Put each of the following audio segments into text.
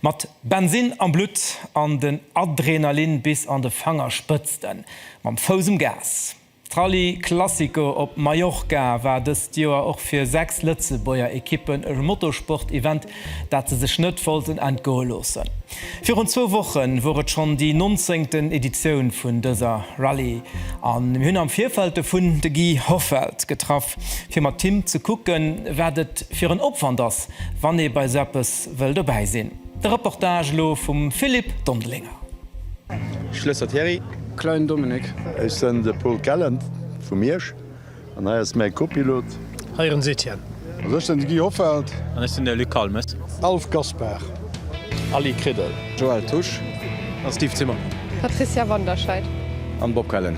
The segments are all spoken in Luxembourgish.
Mat Bensinn am Blutt an den Adrenalin bis an de Fangerspëtzten. Mam Fouss um Gas. D'Rallye Classico op Mallorca war dëst Joer och fir 6 Lëtzebuerger Ekippen e Motorsport-Event, dat se sech net wollten entgoe loossen. Virun zwou Woche wor et schonn déi nonzéngten Editioun vun dëser Rallye a mir hunn am Virfeld dovun de Guy Hoffelt getraff, fir mat him ze kucken, wat et fir en Opwand ass, wann ee bei esou eppes wëll dobäi sinn. De Reportage elo vum Philippe Dondelinger. Schlësser Thierry. Klein Dominik. Ech sen de Paul Kellen vu Miersch an hei ass mäi Kopilot. Hei ass den Etienne. Also ech sen de Guy Hoffelt. An ech sen de Luc Kalmes. Alf Gaspar. Aly Kriddel. Joël Tusch. An Steve Zimmermann. Patricia Wanderscheid. An Bob Kellen.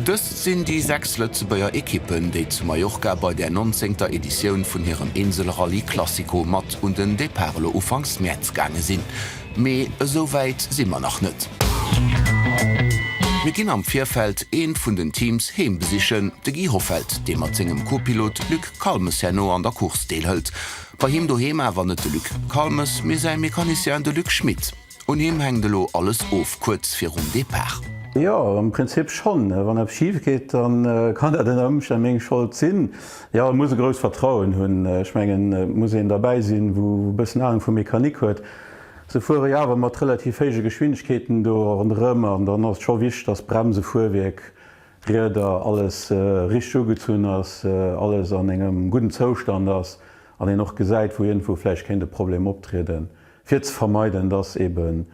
Dës sinn déi sechs Lëtzebuerger Ekippen, déi zu Mallorca bei der nonzéngter Editioun vun hirem Inselrallye Classico mat un den Depart elo ufanks Mäerz gaange sinn. Mee esou wäit si mer nach net. Mir ginn am Virfeld eent vun den Teams heem besichen, de Guy Hoffelt, dee mat sengem Co-Pilot Luc Calmes herno an der Course deelhëlt. Bei him doheem awer net de Luc Calmes, mee säi Mecanicien, de Luc Schmit. Un him hänkt elo alles of, kuerz virum Depart. Jo, am Prinzip schonn. Wann eppes schif geet, da kann dat ënner Ëmstänn meng Schold sinn. Jo, e muss e grousst Vertrauen hunn. Ech mengen, et muss een derbäi sinn, wou e bëssen Ahnung vu Mechanik huet. Se fuere jo awer mat relativ héije Geschwindegkeeten do ronderëm an dann ass et scho wichteg, dass Bremse, Fuerwierk, Rieder, alles richteg ugezunn ass, alles an engem gudden Zoustand ass an een och gesäit, wou iergendwou vläicht kéint e Problem optrieden. fir ze vermeiden, dass eben,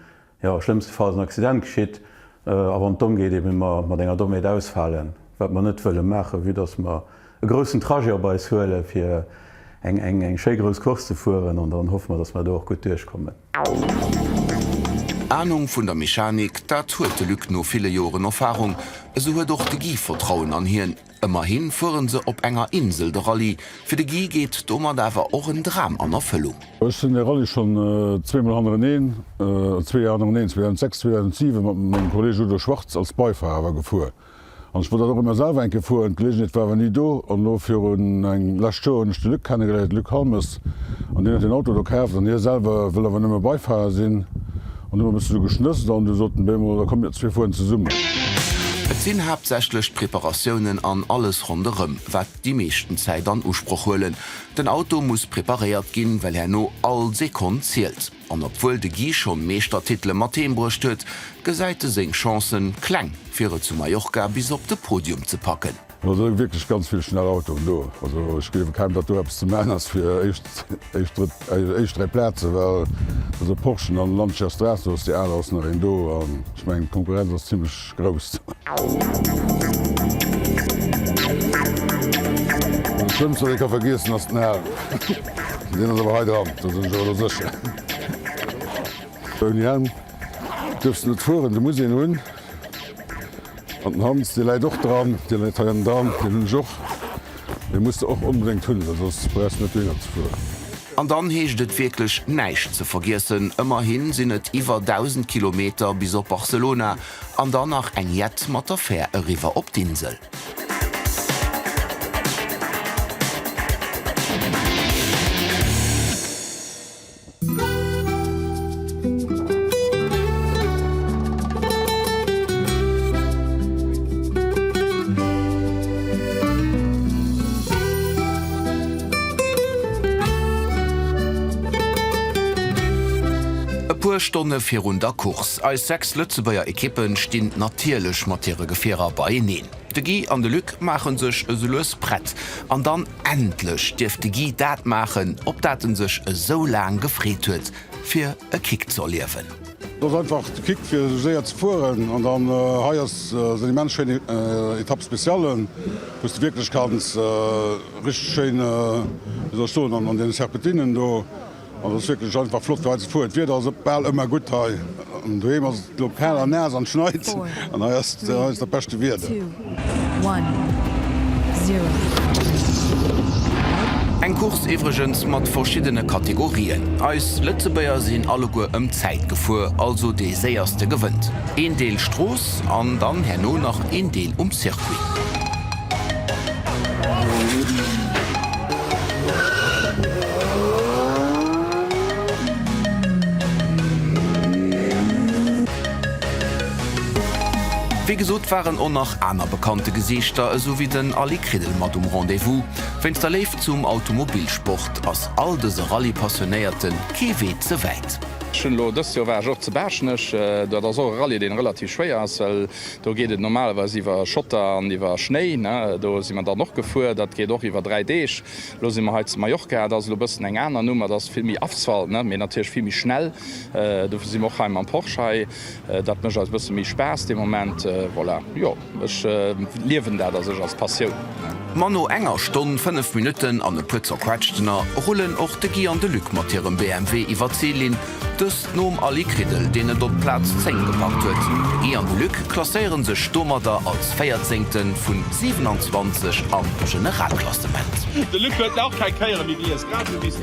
jo, schlëmmstefalls en Accident geschitt, a wann et domm geet, eben mer mat enger Dommheet ausfalen, wat mer net wëlle maachen, vue dass mer e groussen Trajet op eis huelen, fir eng, eng, eng schéi grouss Course ze fueren, an dann hoffe mer, dass mer do och gutt duerchkommen. Anung vun der Mechanik, dat huet de Luc no ville Joren Erfarung, esou huet och de Guy Vertrauen an hien. Ëmmerhi fuere se op enger Insel de Rallye. Fir de Guy geet domat awer och en Dram an Erfëllung. Ech sinn de Rallye schonn zweemol hannereneen, zwee Joer hannereneen, 2006, 2007, mat mengem Kolleeg Udo Schwarz als Beifahrer awer gefuer. An ech wollt dat och ëmmer selwer eng Kéier fueren, d'Geleeënheet war awer ni do. An elo virun eng lescht Joer hunn ech de Luc kennegeléiert, Luc Halmes, an deen huet den Auto do kaaft an hie selwer wëll awer nëmme Beifahrer sinn. An du hun mer bëssen esou geschnësst an du soten, Bé mol, da komm mir zwee fueren zesummen. Et sinn haaptsächlech d'Preparatiounen an alles ronderëm, wat déi meeschten Zäit an Usproch huelen. Den Auto muss preparéiert ginn, well herno all Sekonn zielt. An obwuel de Guy schonn Meeschtertitele mat heem bruecht huet, gesäit e seng Chancen kleng, fir et zu Mallorca bis op de Podium ze packen. Lo sinn wierklech ganz vill schnell Autoen do. Also ech gleewe kaum, datt do eppes ze man ass fir éischt dräi Plazen, well also Porschen an Lancia Stratos, déi aler ass nach een do an ech mengen d'Konkurrenz ass zimmlech grouss. Den schlëmmsten, wat ee ka vergiessen, ass den Helm. Deen ass awer hei dran, do sinn ech awer elo sécher. Ouni Helm duerfs de net fueren, de muss een hunn. An den Hans, dee läit och dran. Dee läit hei am Darm. Deen hunn ech och. Dee muss de och onbedéngt hunn, well soss brauchs de net méi matzefueren. An dann heescht et wierklech näischt ze vergiessen. Ëmmerhi sinn et iwwer 1.000 Kilometer bis op Barcelona an dann nach eng jett mat der Fär eriwwer op d'Insel. E puer Stonne virun der Course. Eis 6 Lëtzebuerger Ekippe stinn natierlech mat hire Gefierer beieneen. De Guy an de Luc maache sech esou lues prett an dann. Endlech dierf de Guy dat maachen, op dat en sech esou laang gefreet huet, fir e Kick ze erliewen. Dat ass einfach de Kick fir esou séier ze fueren. An dann hei ass en immens schéine Etape spéciale, wou s de wierklech kanns richteg schéin, wéi soll ech soen, an deene Serpentinen do An et ass wierklech einfach flott fir hei ze fueren. D'Wieder ass bal ëmmer gutt hei. An doheem ass et elo kal a naass an schneit. An hei ass et dat beschte Wieder. Eng Course iwwregens mat verschiddene Kategorien. Eis Lëtzebuerger sinn alleguer ëm Zäit gefuer, also dee Séierste gewënnt. Een Deel Strooss an dann herno nach een Deel um Circuit. Wéi gesot waren och nach aner bekannte Gesiichter esou wéi den Aly Kridel mat um Rendez-vous. Wéinst der Léift zum Automobilsport ass all dëse Rallye-Passionéierte kee Wee ze wäit. Dëst Joer war ech och zu Baaschtnech. Dat ass och e Rallye, dee relativ schwéier ass. Do geet et normalerweis iwwer Schotter an iwwer Schnéi. Do si mer dann och gefuer. Dat geet och iwwer dräi Deeg. Elo si mer hei zu Mallorca. Et ass elo e bëssen eng aner Numm. Et ass vill méi Asphalt, mee natierlech vill méi schnell. Dofir si mer och hei mam Porsche hei. Dat mécht eis e bësse méi Spaass de Moment. Voilà, jo, ech liewen dat a sech als Passioun. Ma no enger Stonn, fënnef Minutten an e puer Zerquetschtener rullen och de Guy an de Luc mat hirem BMW iwwer d'Zillinn Dëst nom Ali Kriddel, deen et op d'Plaz 10 gepackt huet. Guy an de Luc klasséiere sech domadder als Véierzéngten vu 27 am Generalklassement. De Luc huet nach keng Kéiere méi gelies, grad esou wéi s du.